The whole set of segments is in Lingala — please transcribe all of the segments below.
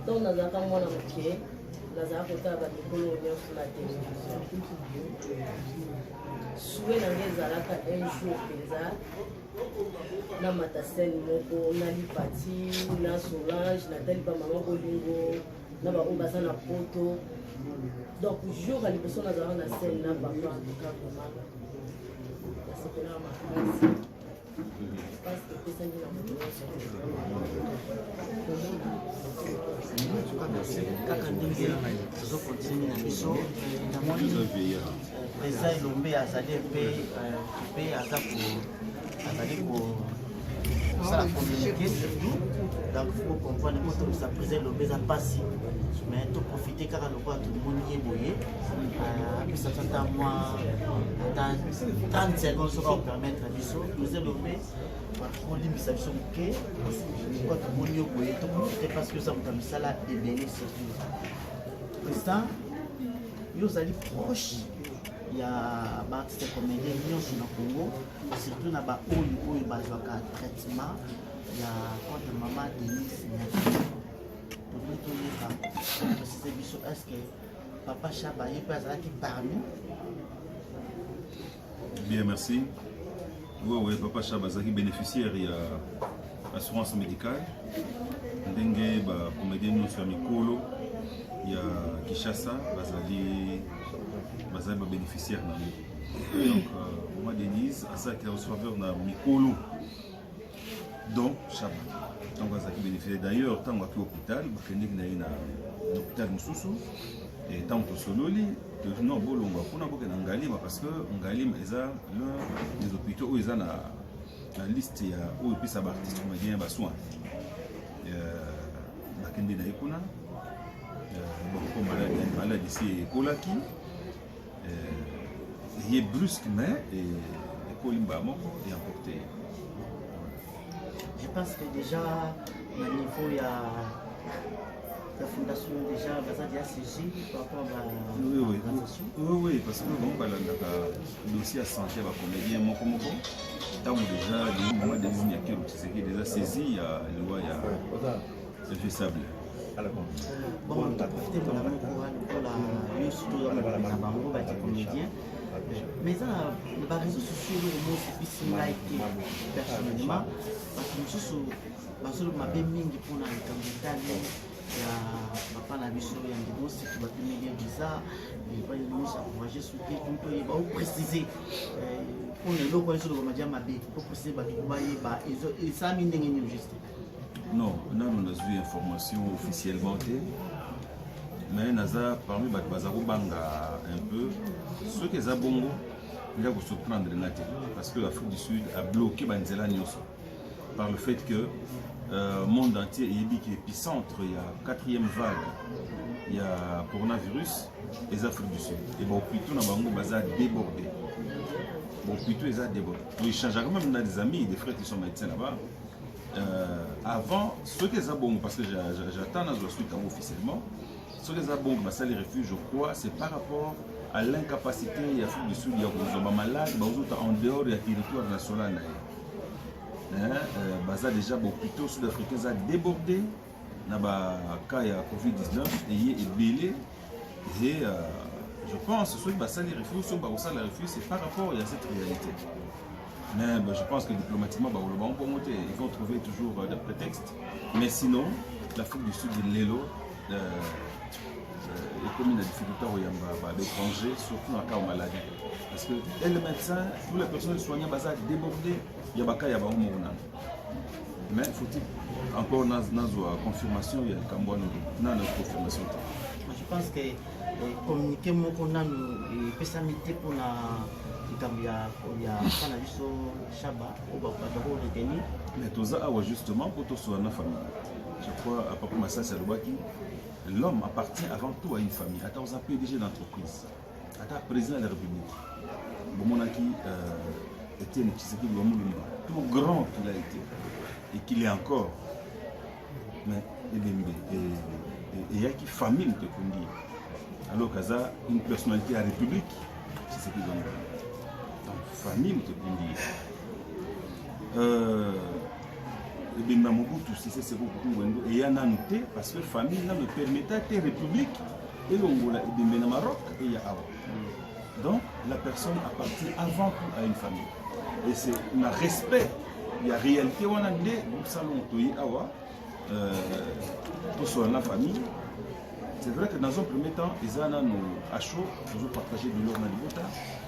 ntango nazalaka mwana moke nazalaka kotala bandekolo nyonso na television sue na ngai ezalaka un jour mpenza na matasene moko na lipati na solange natali bamama bolingo na baoyo baza na poto donc jour ya liboso nazalaka na sene na papa kakomaka nasepelaka makasi kaka ndenge tozo continue na biso namoni président elombe azali mpe mpe aza azali kosala communiqué surtout donc faut comprendre mpo tokisa président elombe eza mpasi mais toprofite kaka lokola tomoni ye boye apesaka ata mwa ata 30 secondes soki akopermettre biso toza lobe kolimbisa biso moke po tomoni yo boye tokoki te parce que oza moto ya misala ebele surtout président yo ozali proche ya baartiste comédien nyonso na congo surtout na baoyo oyo bazwaka traitement ya contre mama denise nyaki tokoki toyeba tosise biso estce Papa Shaba, ye pe azalaki parmi. Bien, merci. Oui, oui, Papa Shaba azalaki bénéficiaire ya assurance médicale. Ndenge ba comédien nyonso ya mikolo ya Kinshasa bazali bazali ba bénéficiaire na yango. Donc, euh, moi Denise asalaki na faveur na mikolo donc shaba ntango azalaki bénéficiaire d'ailleurs ntango aki hôpital bakendeki na ye na hôpital mosusu ntango tosololi totuna bolongwa kuna bokenda ngalima parce que ngalima eza l'un des hôpitaux oyo eza na na liste ya oyo epesa baartiste comédien ya basoin bakende na ye kuna bakomaladi maladi si ekolaki euh, eye brusque mais ekoli mbala moko eemporte ye je pense que déjà na niveau ya la fondation déjà baza déjà saisi par rapport à oui, oui. oui, oui, parce que bango balandaka dossier ya santé ya bacomédien moko moko ntango déjà liwa mama denis nyakeru tshisekedi eza saisi ya liwa ya Infaisable. mais eza na bareseau sociaux eloko mosi bisi ngai te personnellement bato mosusu bazoloba mabe mingi mpona likambo etali ya papa na biso ya ndeko siki bapimeli visa epai mosi akourage soki mpe baoprécise mpona eloko ezolobama dia mabe oprécise bato bayeba esami ndenge nini juste Non, nanu nazwi information officiellement te mais naza parmi bato baza kobanga un peu soki eza bongo eza kosurprendre nga te parce que l'afrique du sud abloke banzela nyonso par le fait que euh, monde entier eyebi ke épicentre ya quatrième vague ya coronavirus eza afrique du sud e baopito na bango baza débordé baopito eza débordé toechangeaka même na des amis des frères qui sont médecins là-bas euh, avant soki eza bongo parce que j'attends nazwa suite yango officiellement soki eza bongo basali refuge je crois c'est par rapport à l'incapacité ya afrique du sud ya kozwa bamalade bazota en dehors ya territoire national na ye euh, baza déjà bopito sud africain eza débordé na ba cas ya covid-19 eye ebele et euh, je pense soki basali refus soki bakosala refus c'est par rapport ya cette réalité mais bah, je pense que diplomatiquement bakoloba ngo bongo te ils vont trouver toujours euh, des prétextes mais sinon l'afrique du sud lelo euh, euh, ekomi na difficulté koyamba baétranger surtout na cas ya maladie parce que le médecin ou la personne soignant baza débordé ya baka ya bango moko nano mais faut encore nazwa confirmation ya likambo wana na na confirmation te je pense que eh, communiqué moko nanu epesami te mpona likambo ya bana biso shaba oyo bato bako retenir mais toza awa justement mpo toswana na famille je crois papa masasi alobaki l'homme appartient avant tout à une famille ata oza pdg d'entreprise ata président de la république bomonaki euh, etienne tshisekedi wa mulumba tout grand qu'il a été et qu'il est encore mais elembe eyaki famille moto ekundi ye alors kaza une personnalité ya république tshisekedi wa mulumba donc famille moto ekundi ye euh, ebemba mobutu sese seko kungwendo eya nanu te parce que famille nanu epermeta te république elongola ebembe na maroc eya awa donc la personne appartient avant tout à une famille et c'est na respect ya réalité wana nde salon toye awa euh, tosola na famille c'est vrai que dans un premier temps eza nanu acho tozo partage biloko na libota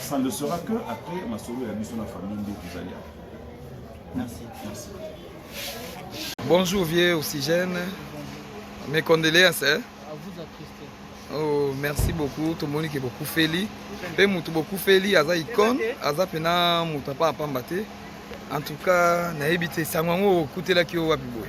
Ça ne sera que après masolo ya biso na famille nde tozali awa. Merci. Merci. Bonjour vieux Oxygène. Mes condoléances. Hein? À vous attristé. Oh, merci beaucoup tomoni ke bokufeli mpe motu bokufeli aza icone aza mpena moto apa apamba te en tout cas nayebi te sango yango okutelaki yo wapi boye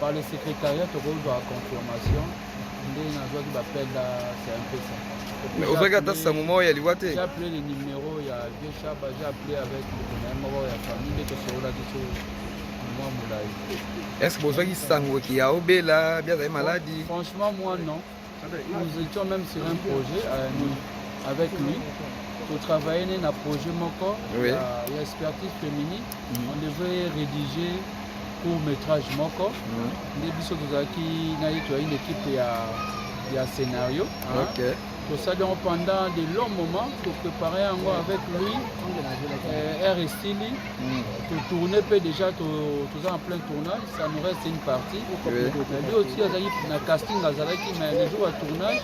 Par le secrétariat, tokoki kozwa confirmation nde nazwaki bapel na cmpesa mais ozwaki ata sango moko ya liwa te japle le numero ya vieux shaba japle avec mokonaye moko ya famille nde tosololaki so mwa molai est ce que bozwaki sango kiya obela bia azali maladi franchement moi non Nous étions même sur un projet euh, nous, avec lui. Pour travailler né na projet moko Oui. ya ya expertise féminine. Mhm. On devait rédiger court métrage moko. Mhm. Nde biso tozalaki na ye toyaki na équipe ya ya scénario. hein. Ok. tosali yango pendant de long moment topréparer yango avec lui euh, air estili Mm. totourne mpe déjà to- toza en plein tournage ça nous reste une partie nabi aussi azali na casting azalaki mais le jour ya tournage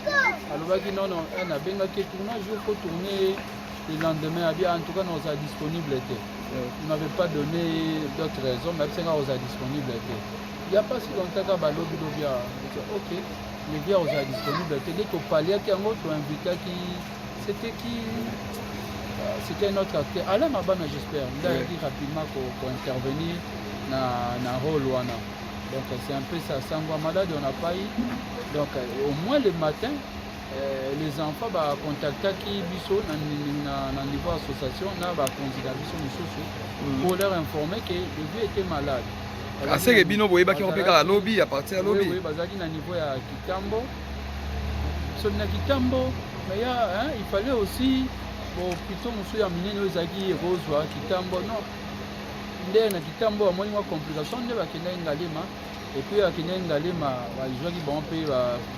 alobaki non non eh, nabengaki tournage yo faut tourner le lendemain abi ah, en tout cas non ozala disponible te il m'avait pas donné d'autres raisons mais abisanga ozala disponible te ya mpasi longtaka balobi lobi ah, ok levia ozala disponible te nde topaliaki yango toinvitaki C'était qui euh, C'était un autre acteur. Alain Mabana, j'espère. Il a ouais. dit rapidement qu'on intervenir dans le rôle Wana. Donc c'est un peu ça. Sangwa malade, on n'a pas eu. Donc euh, au moins le matin, euh, les enfants bah, contactaki biso na, na, na niveau association na bakonzi na biso mosusu mm. pour leur informer que le vieux était malade aseke bino boyebaki yango mpe kaka lobi ya parti ya lobi bazalaki na niveau ya kitambo soki na kitambo mais ya hein, il fallait aussi bopito mosusu ya minene oyo ezalaki ekozwa kitambo non nde na kitambo bamoni mwa complication nde bakendaki ngalema epuis bakendaki ngalema bazwaki bango mpe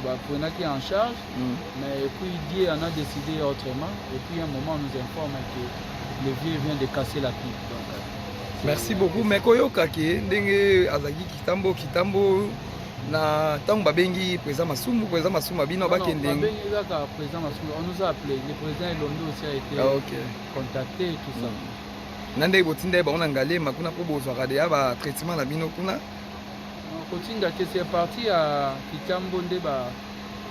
baprenaki en charge mm. mais epuis dieu en a décidé autrement epuis un moment nous informe que le vieux vient de casser la pipe donc euh, merci beaucoup mais koyoka ke ndenge azalaki kitambo kitambo na ntango babengi président Masumbu, président Masumbu abino bakende non, babengi kaka président Masumbu, on nous a appelé le président Elondo aussi a été ah, okay. contacté et tout ça mm. na ndenge botinda ye bango na Ngalema kuna mpo bozwaka deya ba traitement na bino kuna kotinda te c'est parti ya Kitambo nde ba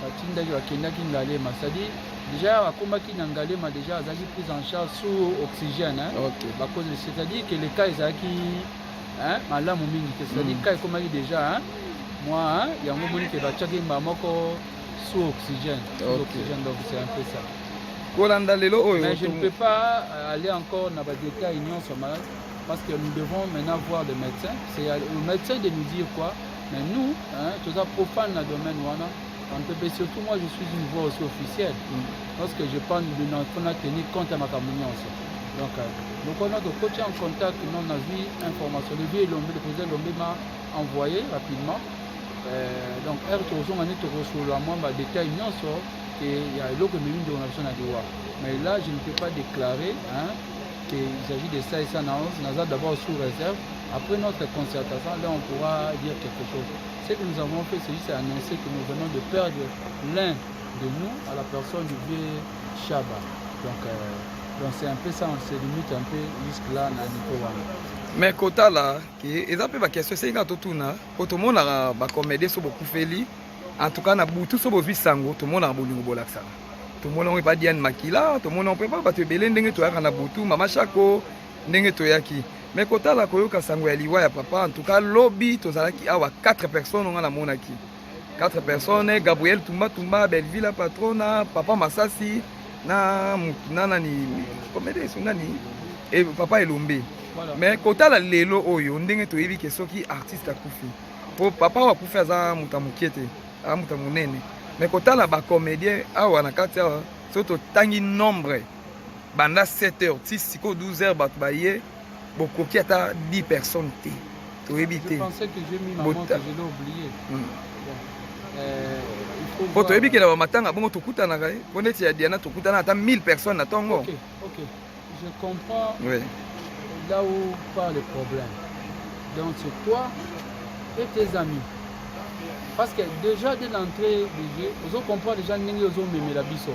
batindaki bakendaki Ngalema c'est-à-dire déjà akomaki na Ngalema déjà azalaki prise en charge sous oxygène hein? okay. bakozi c'est-à-dire que le cas ezalaki hein malamu mingi te c'est-à-dire mm. ka ekomaki déjà hein moi hein yango moni ke batiaki mbala moko sous oxygène sous oxygène donc c'est un peu ça kolanda lelo oyo mais je ne peux pas euh, aller encore na badétail nyonso ma parce que nous devons maintenant voir le médecin c'est au médecin de nous dire quoi mais nous hein toza profane na domaine wana Mpepe surtout moi je suis une voix aussi officielle mm. parce que je parle de notre na tenir compte ya makambo nyonso donc euh, lokola tokoki en contact non nazwi information lebi elombe deposa elombe ma envoyé rapidement euh, donc heure tokozonga nde tokosolola mwa badetail nyonso ke ya eloko ememi ndeko na biso na liwa mais là je ne peux pas déclarer hein, que il s'agit de ça et ça naza d'abord sous réserve après notre concertation là on pourra dire quelque chose Ce que nous avons fait, c'est juste annoncer que nous venons de perdre l'un de nous à la personne du vieux Shaba. Donc, euh, donc c'est un peu ça, on se limite un peu jusque-là dans niveau wana. mais kotala ke eza mpe bakestion esengeli kaka totuna mpo tomonaka bacomédien so bokufeli en tout cas na butu so bozwi sango tomonaka bolingo bolakisaka tomona yango epa diane makila tomona yango mpe epa bato ebele ndenge toyaka na butu mama shako ndenge toyaki me kotala koyoka sango ya liwa ya papa en tout cas lobi tozalaki awa 4 personnes nga namonaki 4 personnes gabriel tumba tumba belvila patrona papa masasi na na nani komede so nani e, papa elombe voilà. mais kotala lelo oyo ndenge toyebi ke soki artiste akufi po papa oyo akufi aza moto ya moke te aza moto ya monene mais kotala bacomédien awa na kati awa soki totangi nombre banda 7 heures ti sikoyo 12 heures bato baye bokoki ata 10 personnes te toyebi te mpo toyebi ke na bamatanga bongo tokutanaka ye mpo neti ya diana tokutana ata 1000 personnes na ntongo okay, okay. Je comprends oui. là où part le problème. Donc c'est toi et tes amis. Parce que déjà dès l'entrée du jeu, vous comprenez déjà que vous avez la biseau.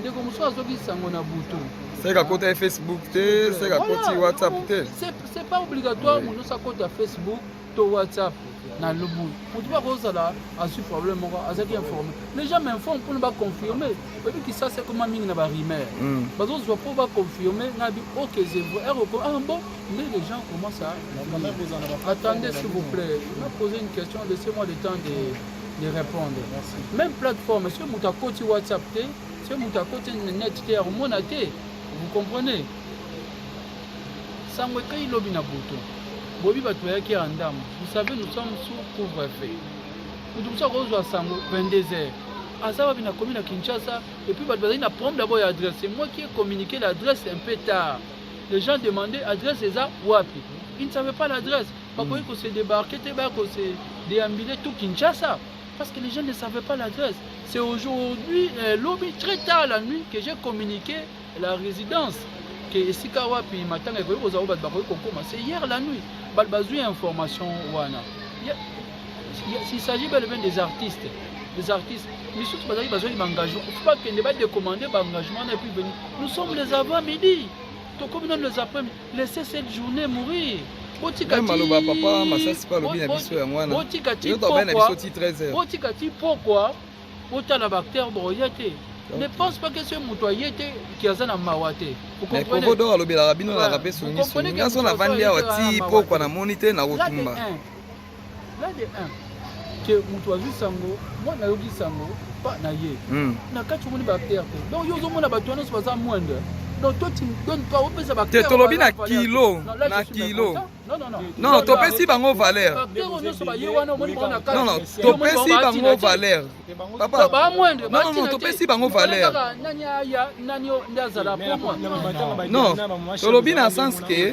ndeko mosusu azoki sango na butu seke akota ye facebook te seke akoti whatsapp te c'est pas obligatoire moto nyonso akota facebook to whatsapp na lobu motu bakozala azwi problème moko azalaki informe les gens m'informe mpona baconfirme oyebi kisasa ekoma mingi na barimaire hmm. bazozwa mpo baconfirme na bi ok zevre eroko ah bon mais les gens commence à attendez s'il vous plaît na poser une question laissez moi le temps de de répondre Merci. même plateforme soki moto akoti whatsapp te soki moto akoti net te akomona te vous comprenez sango ekai lobi na butu bobi bato bayaki ya ndambo vous savez nous sommes sous couvre feu moto mosusu akozwa sango 22 heures aza wapi na komi na kinshasa epuis bato bazali na problème d'abord ya adresse moi qui ai communiqué l'adresse un peu tard les gens demandaient adresse eza wapi ils ne savaient pas l'adresse bakoki ko se débarquer te baya ko se déambuler tout Kinshasa parce que les gens ne savaient pas l'adresse c'est aujourd'hui euh, lobi très tard la nuit que j'ai communiqué la résidence que esika wapi matanga ekoki kozala bato bakoki kokoma c'est hier la nuit bato bazwi information wana il s'agit bel et bien des artistes des artistes misusu bazali bazwaki baengagement fo bakende badecommande baengagement wana epuis veni nous sommes les avant midi tokomi nano les après Laissez cette journée mourir. Botika ti maloba papa masasi pa lobi na biso yango wana. Botika ti pokwa. Botika ti pokwa. Botala ba acteurs boye te. Ne pense pas que ce moto aye te ki aza na mawa te. Vous comprenez? Kodo alobelaka bino na kape songi songi. Ngaso na vandi awa ti pokwa na moni te na kotumba. là de un ke moto azwi sango mwana ayoki sango pa na ye hmm. na kati omoni baacteur te donc yo ozomona bato wana nyonso baza moindre donc toi tu donne pas opesa ba te tolobi na kilo na kilo non topesi bango valeur non non topesi bango valeur papa non non topesi bango valeur non tolobi na sens que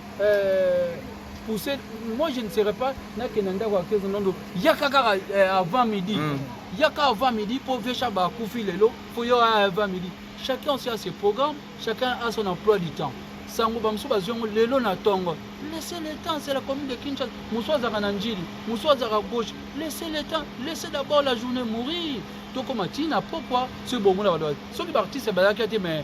Euh... pousser moi je ne serai pas nakenda ndako ya kezo nondo yaka kaka eh, avant midi mm. yaka avant midi mpo vesha bakufi lelo mpo yo aya avant midi chacun aussi a ses programmes chacun a son emploi du temps sango bamosusu bazwi yango lelo na ntongo laisse le temps c'est la commune de kinshasa mosusu azalaka na njili mosusu azalaka gauche laisse le temps laisse d'abord la journée mourir tokoma ntina mpokwa soki bongo na bato soki baartiste bazalaki te mais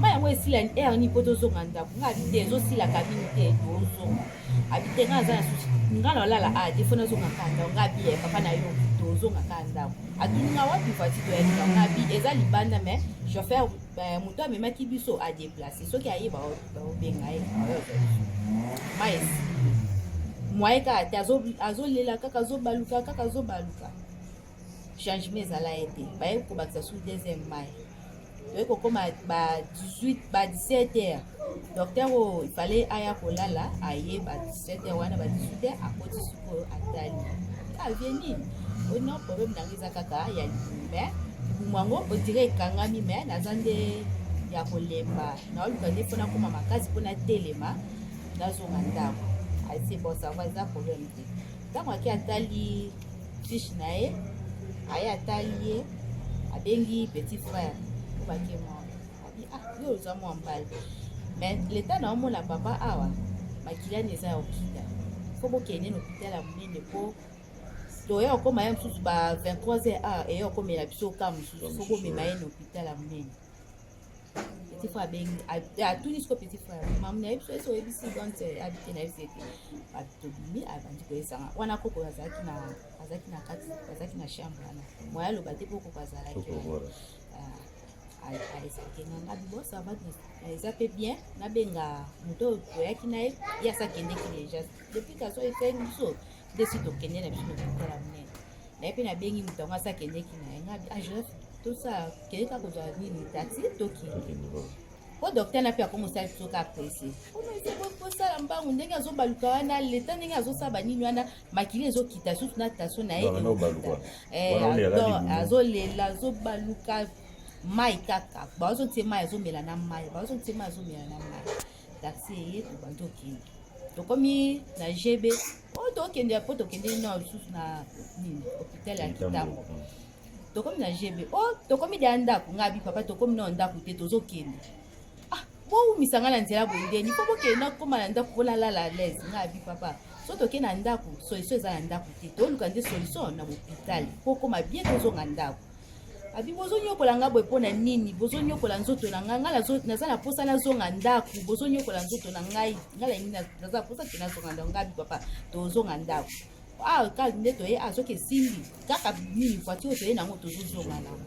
mai yango esila heure nini mpo tozonga ndako nga abi te ezosila kabini te tozonga abi te nga aza na susi nga na olala a defo nazonga ka ndako nga abi eh, papa na yo tozonga ka ndako atuni nga wapi voiture toyaki ndako nga abi eza libanda mais chauffeur eh, moto amemaki biso adeplace soki ayeba obenga ye mai esili mwaye kaka te azolela kaka azobaluka kaka azobaluka changement ezala ye te baye kobakisa sur deuxième mai toye kokoma ba 18 ba 17 heures docteur oyo ifale aya kolala aye ba 17 heures wana ba 18 heures akoti sikoyo atali avie ah, nini ono problème nango eza kaka ya libumu mai libumu yango odire ekangami mai naza nde ya kolemba naoluka nde mpo nakoma makasi mpo natelema nazonga ndako aise bon sava eza problème te ntango ake atali fiche na ye aye atali ye abengi petit frère obake mwana abi ah yo oza mwa mbali mais leta na omona papa awa makilani eza ya hôpital fo bokende na hôpital ya monene mpo toya okoma ye mosusu ba 23 heures awa eye okomela biso ka mosusu fo bomema ye na hôpital ya monene petit frère abengi atuni siko petit frère mamu na ye biso esi oyebisi donte abite na yebisi ete tobimi abandi koyesanga wana koko azalaki na azalaki na kati azalaki na chambre wana moya aloba te mpo koko azalaki aesplike nga nga bibo sava eza mpe bien nabenga moto oyo toyaki na ye ye asakendeki deja depuis kaso etali biso desi tokende na biso na kotala monene naye mpe nabengi moto yango asi akendeki na ye ngabi ajref ah, tosala kende kaka kozwa nini tati tokende mpo docteur na mpe ako mosala biso kaka presse kosala mbangu ndenge azobaluka wana leta ndenge azosala banini wana makili ezokita susu na tension na ye eh, azolela azobaluka mai kaka baozotie mai azomela na mai baozotie mai azomela na mai taxi eye tobandi tokende tokomi na gb oyo oh, tokende po tokende na lisusu na nini hôpital ya kitambo tokomi na gb o oh, tokomi deya ndako ngai bi papa tokomi nao ndako te tozokende ah, bowumisa ngai na nzela boye ndeni po bokende nakoma na ndako bolalala alaise ngai bi papa so toke na ndako solution eza na ndako te toluka nde solution na hôpital po okoma bien tozonga ndako abi bozonyokola nga boye mpo na nini bozonyokola nzoto na ngai ngai naza na mposa nazonga ndako bozonyokola nzoto na ngai ngai na nini naza na mposa te nazonga ndako ngai abi papa tozonga ndako awa ah, kaka nde toye azoki ah, esimbi kaka nini voiture toye nango tozozonga nango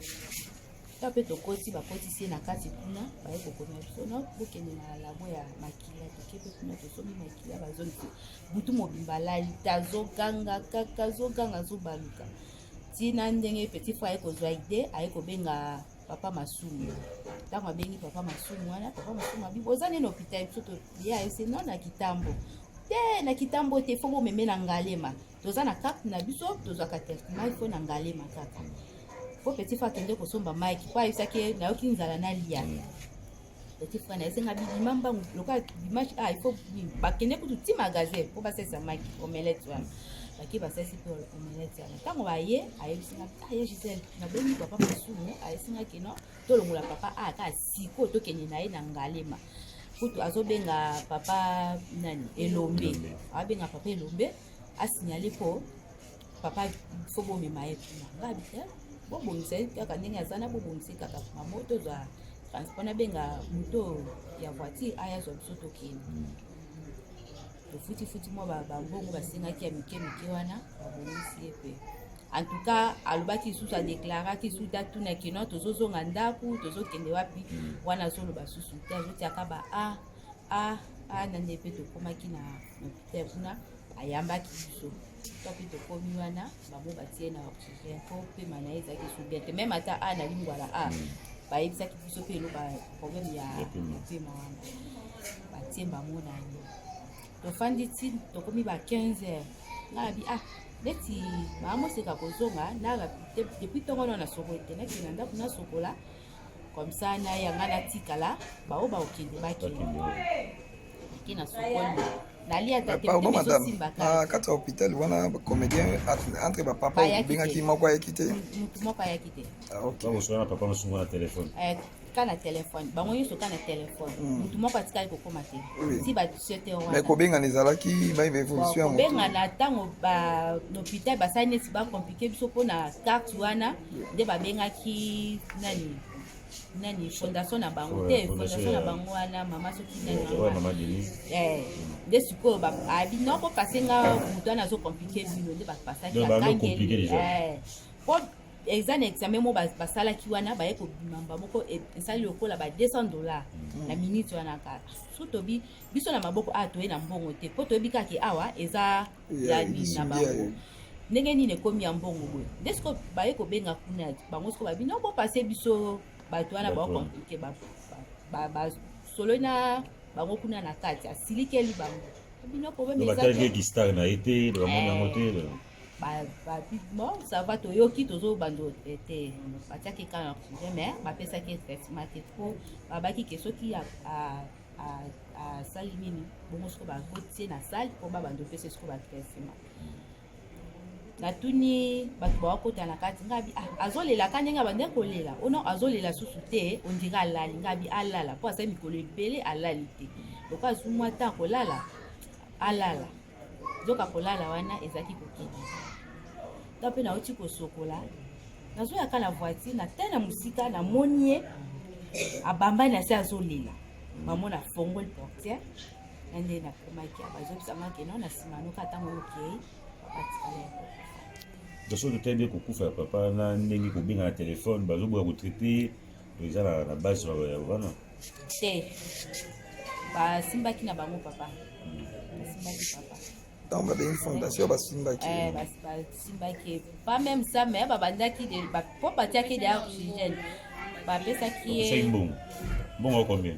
ta mpe tokoti bakotisi ye na kati kuna baye kokoma biso no bokende na labo ya makila toke mpe kuna tosomi makila bazongi butu mobimba lali tazoganga kaka zoganga zobaluka tina ndenge petit frère aye kozwa ide aye kobenga papa masumu ntango abengi papa masumu wana papa masumu abi oza nini hôpital biso ye ayese no na kitambo te na kitambo te fo bomeme na ngalema toza na carte na biso tozwaka traitement ifo na ngalema kaka po petit fa akende kosomba mike po ayebisaki nayoki nzala nalia eti frana esenga bibima mbangu lokola dimanche ah il faut bakende kutu ti magasin mpo basalisa maki omelette wana bake basalisi mpe omelette wana ntango baye ayebisinga ah ye gisele nabengi papa masumu ayebisinga kino tolongola papa a ah, kaka sikoyo tokende na ye na ngalema kutu azobenga papa nani elombe abenga papa elombe asignale mpo papa fo bomema ye kuna ngabi te bobongisa ye kaka ndenge aza na bobongisa ye kaka kuna mo tozwa transport nabenga moto ya voiture aya zwa biso tokende hmm. tofutifuti mwa bambongo basengaki ya mike mike wana babongisi ye mpe en tout cas alobaki lisusu adeklaraki susu te atunaki no tozozonga ndako tozokende wapi hmm. wana azoloba susu te azotiaka ba a ah, a ah, a ah, na nde mpe tokomaki na hopital kuna ayambaki biso wapi tokomi wana bango batie na oxygène po pema na ye ezalaki esu bien te meme ata a na lingwala a hmm. bayebisaki biso mpe eloba problème ya pema wana batie bango na ye tofandi ti tokomi ba 15 heures ngabi ah neti baamoseka kozonga na depuis ntongo wana nasokoli te nakenda ndako nasokola comme ça nayanga natikala baoyo bakokende bakende pardon madame na kati ya hôpital wana comédien entre bapapa obengaki moko ayaki te papa mosungo na telefone ka na telefone bango nyonso ka na telefone motu moko atikali kokoma te ti basete wana kobengana ezalaki baevolution ya kobengana ntango bahopital basali neti bacomplike biso mpo na carte wana nde babengaki nani nani fondation na bango te fondation na bango wana mama soki nani eh, nde sikoyo abi ah, noko pase nga moto wana azo komplike bino nde bapasaki akangeli eh, po eza na examen moko basalaki wana baye kobima mba moko e, esali lokola ba 200 dollar mm. na minute wana kaka so tobi biso na maboko awa ah, toye na mbongo te mpo toyebi kaka awa eza ya nini na bango ndenge nini ekomi ya mbongo boye nde siko baye kobenga kuna bango siko babi no bopase biso bato wana baokomplike basololi na bango kuna na kati asilikeli bango bino problèmegistar na ye te bamoni yango te bon ça va toyoki tozobando te batiaki kaka na projet mais bapesaki traitement te po babaki ke soki asali nini bongo soko bakotie na sale mpo babanda opesa soko bato ya nsima natuni bato bakokota na kati ngabi ah, azolela ka ndenge abandi kolela ono oh azolela susu te ondire alali ngabi alala mpo asali mikolo ebele alali te lokola azwi mwa ntan kolala alala nzoka kolala wana ezalaki kokendisa nga mpe nauti kosokola nazoyaka na voiture na tele na mosika namoni ye abambani na se azolela mamo na fongoli portiere na nde nakomaki abazobisangaki no na nsima noka ntango okei batikala yango soki totebi kokufa ya papa na ndenge kobenga na telefone bazoboya kotraite eza na, na base ya wana te basimbaki na bango papa basimbaki papa ntango babengi fondation basimbaki eh, basimbaki pas même ça mais babandaki mpo batiaki de argigène bapesaki ye mbongo mbongo combien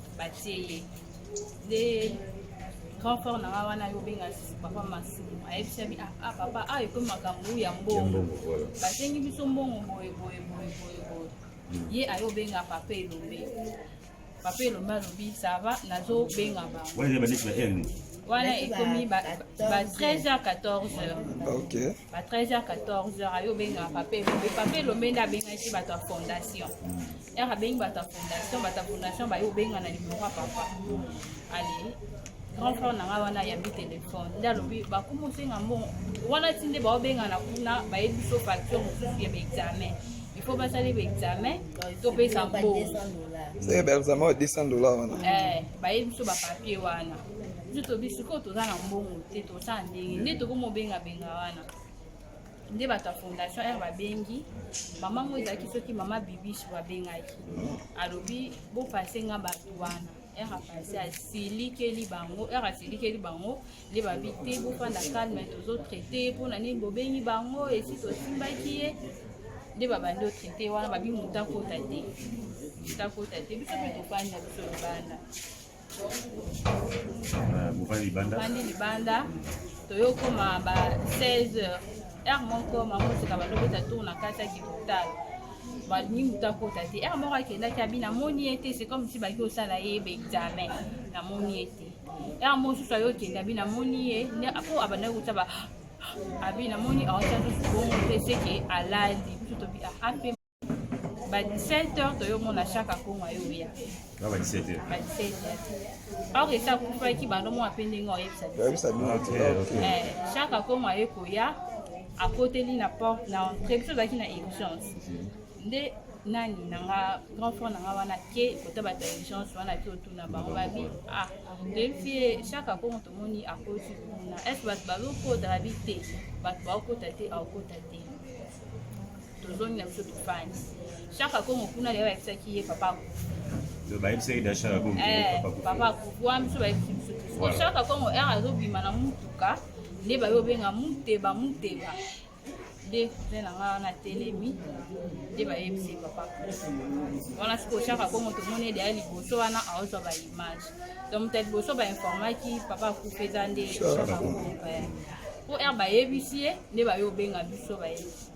batie ye nde grand frère na nga wana yobenga papa masimu ayebisami ah, ah papa a ah, ekomi makambo ya mbongo basengi biso mbongo boye boye boye boye boye hmm. ye ayobenga papa elombe papa elombe alobi sava nazobenga bango wana ekomi ba 13 h 14 h ba 13 h 14 h ayo obengaka pape elombe pape elombe nde abengaki bato ya fondation yaka bengi bata fondation bata fondation baye obenga na nimero ya papa ale grand frère na ngai wana ayambi telefone nde alobi bakoma osenga mbongo wana ti nde baobengana kuna bayebi biso facture mosusu ya baexamen ifo basali baexamen topesa mbongo ndenge baexamen ya 200 dollar wana eh, bayebi biso bapapier wana biso tobi sikoyo toza na mbongo te tosala ndenge nde tokomobengabenga wana nde bato ya fondation aire babengi mama ngo ezalaki soki mama bibisu babengaki alobi bopase nga bato wana aire apase asilikeli bango aire asilikeli bango nde babi te bofanda calme tozotraite mpona nini bobengi bango esi tosimbaki ye nde babandi otraite wana babi motakota te motakota te biso mpe tofanda biso libanda mobali libanda mobali libanda toyokoma ba 16 heures heure moko mamoseka balobeta tour na kati ya kipital balingi moto akota te heure moko akendaki abi namoni ye te c'est comme si baki osala ye baexamen namoni ye te heure mosusu ayo okende abi namoni ye mpo abandaki kota ba abi namoni aotia susu bongo te seke alali biso tobi ape ba 17 heures toyomona chaque akongo ayoya na ba 17 heures ba 17 heures or esi akufaki bando mwa mpe ndenge oyebisa biso eh, chaque akongo aye koya akoteli na porte na entrée biso ozalaki na urgence mhm. nde nani nanga grand frère nanga wana ke kota bato ya urgence wana te otuna bango babi ah toyebisi ye chaque akongo tomoni akoti kuna est ce bato bazokota babi te bato baokota te aokota te tozongi na biso tofandi shaka kongo kuna lelo bayebisaki ye papa bayebisaki da shaka kongo eh, papa kukua biso bayebisi biso ko shaka kongo r azobima na motuka nde baye obenga muteba muteba nde nde na ngai wana telemi nde bayebisi ye papa wana sikoyo shaka kongo tomoni ede ya liboso wana aozwa baimage donc moto ya liboso bainformaki papa akufa eza nde shaka kongo eh. po r bayebisi ye nde baye obenga biso bayebisi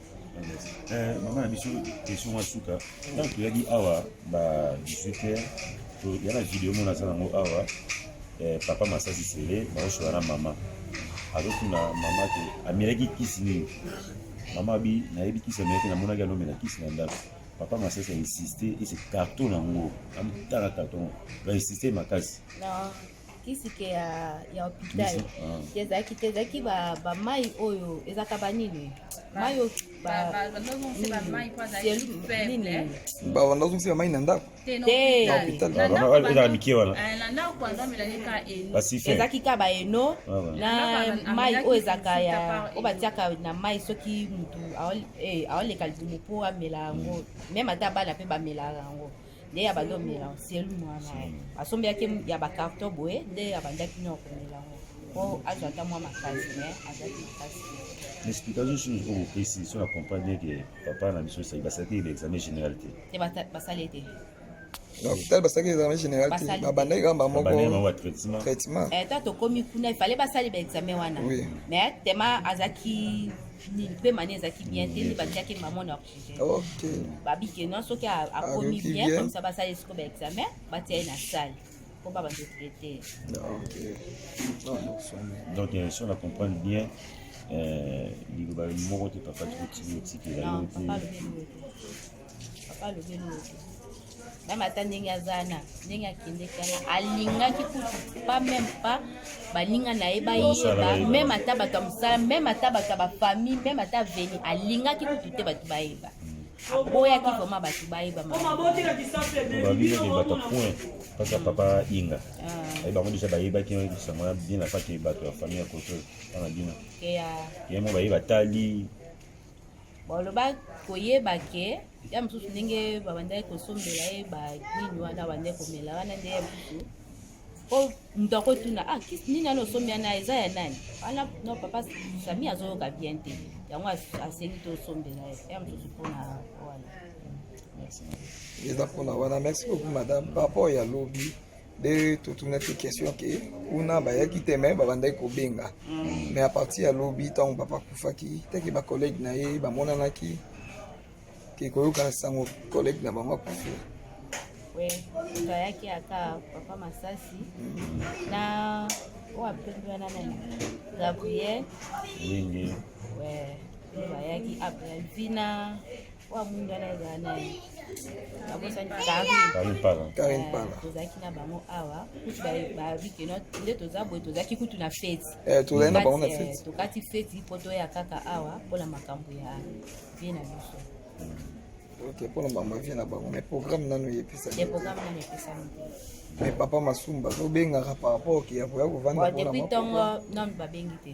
Eh, mama na biso question ya suka ntango toyaki awa ba 18 heures toya na video mona aza nango awa eh, papa masasi sele baosola na mama azotuna mama te amelaki kisi nini mama abi nayebi kisi amelaki namonaki anomela kisi na ndako papa masasi ainsiste ese carton yango amotala carton bainsiste makasi kisi ke ya, ya hopital te ezalaki te ezalaki bamai oyo ezalaka banini mai oyo bavanda ozongisa mai na ndako mike wanaezalaki ka baeno na mai oyo ezalaka ya oyo batiaka na mai soki motu aoleka libumu mpo amela yango meme ata bana mpe bamelaka yango nde ya bando omela selu mwana ye asombelaki ya bacarton boye nde abandaki nao komela yango po azwa ata mwa makasi me azwaki makasi explication sur oyo opesi so na comprendre bien ke papa na biso esaki basalaki ye examen général te te basali ye te lopital basalaki examen général te babandaki kaka bamoko traitement eh, ta tokomi kuna ifale basali baexamen wana mais tema azalaki nini mpe mani ezalaki bien te nde batiaki mama na babike no soki akomi bien komisa basala esiko ba examen batia ye na sale mpo ba bando traite donc euh, si on a comprendre bien euh, liloba moko te papa tikotiki otikela yo te papa alobeli oyo meme ata ndenge aza na ndenge akendeki wana alingaki kutu pa meme pa baninga na ye bayeba meme ata bato ya mosala meme ata bato ya bafamille meme ata veni alingaki kutu te bato bayeba aboyaki vraimen bato bayeba parce que papa inga ah. aye bango deja bayebaki sango ya bien apake bato ya famille ya koto wana bino ye mo baye batali baloba koyeba ke ya mosusu ndenge babandaki kosombela ye banini wana bandaki komela wana nde ya mosusu po moto akotuna ah kisi nini wana osombi wana eza ya nani wana no papa sami azoyoka bien te yango asengi tosombela ye ya mosusu mpona wana eza mpona wana merci beaucoup madame par rapport ya lobi nde totunaki question ke kuna bayaki te me babandaki kobenga mm. mais a partir ya lobi ntango papa akufaki teke bacollege na ye bamonanaki ke koyoka sango college na bango akufi we moto ayaki aka papa masasi mm. na oyo apembi wana nani gabriel mingi we bayaki apre vina oyo amwinda na ezala na ye abosani karine pala tozalaki na bango awa kutu bayebi ke nde toza boye tozalaki kutu na feti eh, tozali na bango na feti eh, tokati feti mpo toya kaka awa mpo na makambo ya vie na biso ok mpo na bango vie na bango mais programme nanu eyepesami eh, programme nanu eyepesami mais papa masumba tobengaka par rapport ke ya koya kovanda depuis ntongo nanu babengi te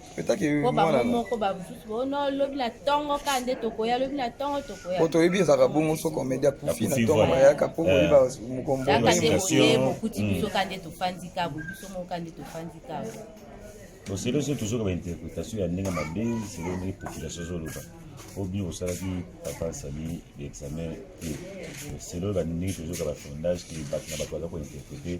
po bango moko bamosusu bono lobi na ntongo ka nde tokoya lobi na ntongo tokoya po toyebi ezalaka bongo so komedi akufi na ntongo bayaka po koyeba eh. mokomboaka nde boye bokuti mm. biso ka nde tofandi kabo biso moko ka nde tofandi kabo boselo so tozoka bainterpretation ya ndenge mabe selo ndenge population ezoloba obi osalaki papa asali examen te selo bandenge tozoka bafondage te bato na bato baza kointerprete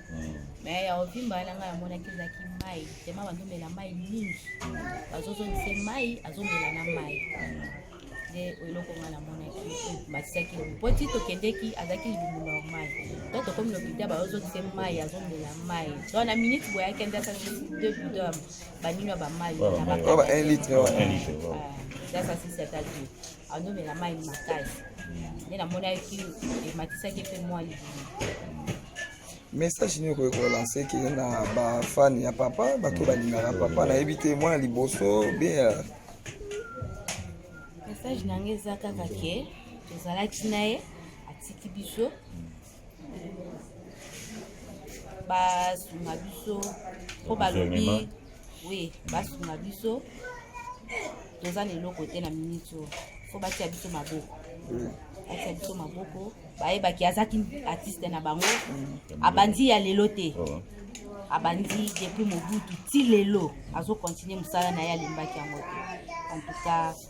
me ya ovimba wana ngai amonaki ezalaki mai tema bazomela mai mingi bazozongise mai azomela na mai nde eloko ngai namonaki batisaki lobi mpo ti tokendeki azalaki libumu normal to tokomi lopita bazozongise mai azomela mai so na minute boye akende asasi deux bidon banino ya bamai na bakalitre asasisi ata deux azomela mai makasi nde namonaki ematisaki mpe mwa libimi message nini okoki kolanse ke na bafani ya papa bato balingaka papa nayebi te mwana liboso bien euh, message na ngai eza kaka ke tozalaki na ye atiki biso basunga biso mpo balobi oui basunga biso toza na eloko te na miniti oyo mpo batia biso maboko mm. batia biso maboko bayebaki azaki artiste na bango mm. abandi ya lelo te oh. abandi depuis mobutu ti lelo azokontinue mosala na ye alimbaki yango te en tout cas